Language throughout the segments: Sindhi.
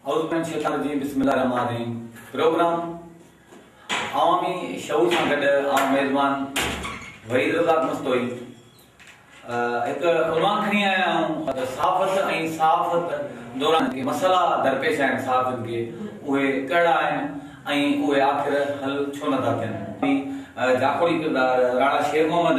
اعوذ من الشيطان الرجيم بسم الله الرحمٰن الرحيم پروگرام عوامي شعور سان گڏ آئون ميزبان وحيد رزاق مستوئي هڪ عنوان کڻي آيا آهيون ته صحافت ۽ صحافت دوران جيڪي مسئلا درپيش آهن صحافين کي اهي ڪهڙا آهن ۽ اهي آخر حل ڇو نٿا ٿين جاکوڙي ڪردار راڻا شير محمد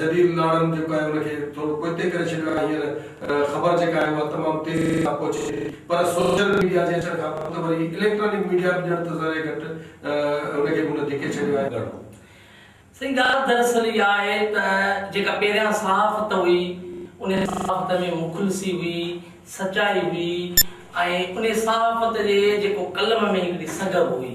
جديد ناڻن جيڪو آهي ان کي ٿورو پوئتي ڪري ڇڏيو آهي هينئر خبر جيڪا آهي اها تمام تيزي سان پهچي ٿي پر سوشل ميڊيا جي اچڻ کانپوء ته وري اليڪٽرانڪ ميڊيا به ڄڻ ته ذري گهٽ ان کي به هن ڌڪي ڇڏيو آهي ڳاڙهو. سائين ڳالهه دراصل اها آهي ته جيڪا پهريان صحافت هئي ان صحافت ۾ مخلصي هئي سچائي هئي ۽ ان صحافت جي جيڪو قلم ۾ هڪڙي سگهه هئي.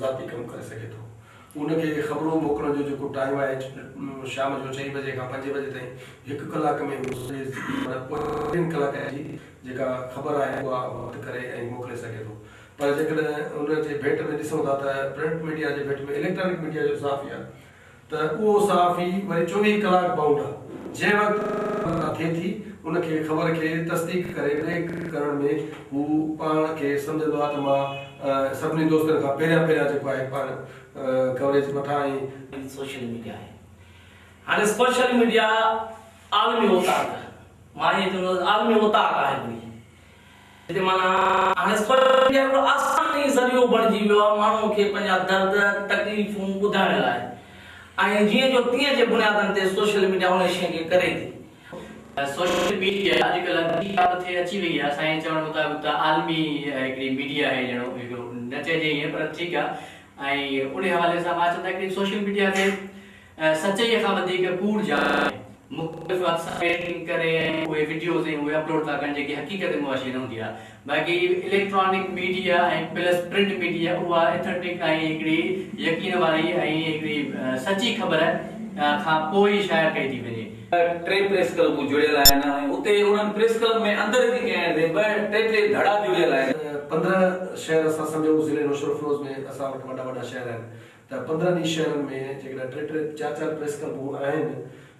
ذاتي ڪم ڪري سگهي ٿو. ان کي خبرون موڪلڻ جو جيڪو ٽائيم آهي شام جو چئين بجي کان پنج بجي تائين هڪ ڪلاڪ ۾ هو سڄي معنيٰ پورين ڪلاڪن جي جيڪا خبر آهي اها وڌ ڪري ۽ موڪلي سگهي ٿو پر جيڪڏهن ان جي ڀيٽ ۾ ڏسون ٿا ته پرنٽ ميڊيا جي ڀيٽ ۾ اليڪٽرانڪ ميڊيا جو صحافي آهي ته اهو صحافي وري چوويهه ڪلاڪ بائونڊ آ، جنهن وقت اطلاع ٿئي ٿي، ان کي خبر کي تصديق ڪري بريڪ ڪرڻ ۾ هو پاڻ کي سمجهندو آ ته مان سڀني دوستن کان پهريان پهريان جيڪو آهي پاڻ ڪوريج وٺان ۽. هي سوشل ميڊيا آهي. هاڻي سوشل ميڊيا عالمي اوطاق، مان ائين چوندس عالمي اوطاق آهي ڪوئي. هتي معنيٰ هاڻي سوشل ميڊيا هڪڙو آسان ئي ذريعو بڻجي ويو آهي ماڻهن کي پنهنجا درد، تڪليفون ٻڌائڻ لاء ۽ جيئن جو تيئن جي بنيادن تي سوشل ميڊيا ان شيء کي ڪري ٿي. سوشل ميڊيا اڄڪلهه ٻي ڪا به ٿي اچي وئي آهي، اسان جي چوڻ مطابق ته عالمي هڪڙي ميڊيا آهي ڄڻو هڪڙو نه چئجي ائين پر ٺيڪ آهي ۽ انهي حوالي سان مان چوندو آهيان هڪڙي سوشل ميڊيا تي اها سچائيء کان وڌيڪ ڪوڙ جا آهي. مختلف واتسپ ايڊيٽنگ ڪري ۽ اهي وڊيوز ۽ اهي اپلوڊ ٿا ڪن جيڪي حقيقت معاشي نه هوندي آهي. باقي electronic media ۽ plus print media اها اٿنٽڪ ۽ هڪڙي يقين واري ۽ هڪڙي سچي خبر کان پوء ئي شايع ڪئي ٿي وڃي. ٽي پريس ڪلبون جڙيل آهن ۽ اتي انهن پريس ڪلب ۾ اندر جي ڪنهن هنڌ ٻه ٽي ٽي ڌڙا جڙيل آهن. پندرهن شهر اسان سمجهون ضلعي نوشهروفيروز ۾ اسان وٽ وڏا وڏا شهر آهن ته پندرهن ئي شهرن ۾ جيڪڏهن ٽي ٽي چار چار پريس ڪلبون آهن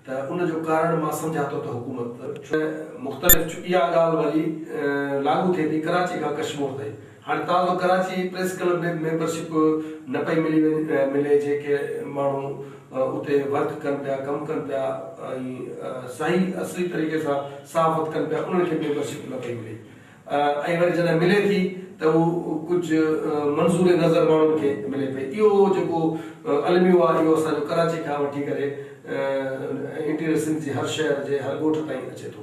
ته ان جو ڪارڻ مان سمجهان ٿو ته حڪومت ۾ مختلف چ اها ڳالهه وري لاڳو ٿئي ٿي ڪراچي کان ڪشمور تائين هاڻي تازو ڪراچي ئي پريس ڪلب ۾ به ميمبر شپ نه پئي ملي ملي جيڪي ماڻهو اتي ورڪ ڪن پيا ڪم ڪن پيا ۽ صحيح اصلي طريقي سان صحافت ڪن پيا انهن کي ميمبر شپ نه پئي ملي ۽ وري جڏهن ملي ٿي ته اهو ڪجهه منظور نظر ماڻهن کي ملي پئي. اهو جيڪو الميو آهي اهو اسان جو ڪراچي کان وٺي ڪري انٽيريئر سنڌ جي هر شهر جي هر ڳوٺ تائين اچي ٿو.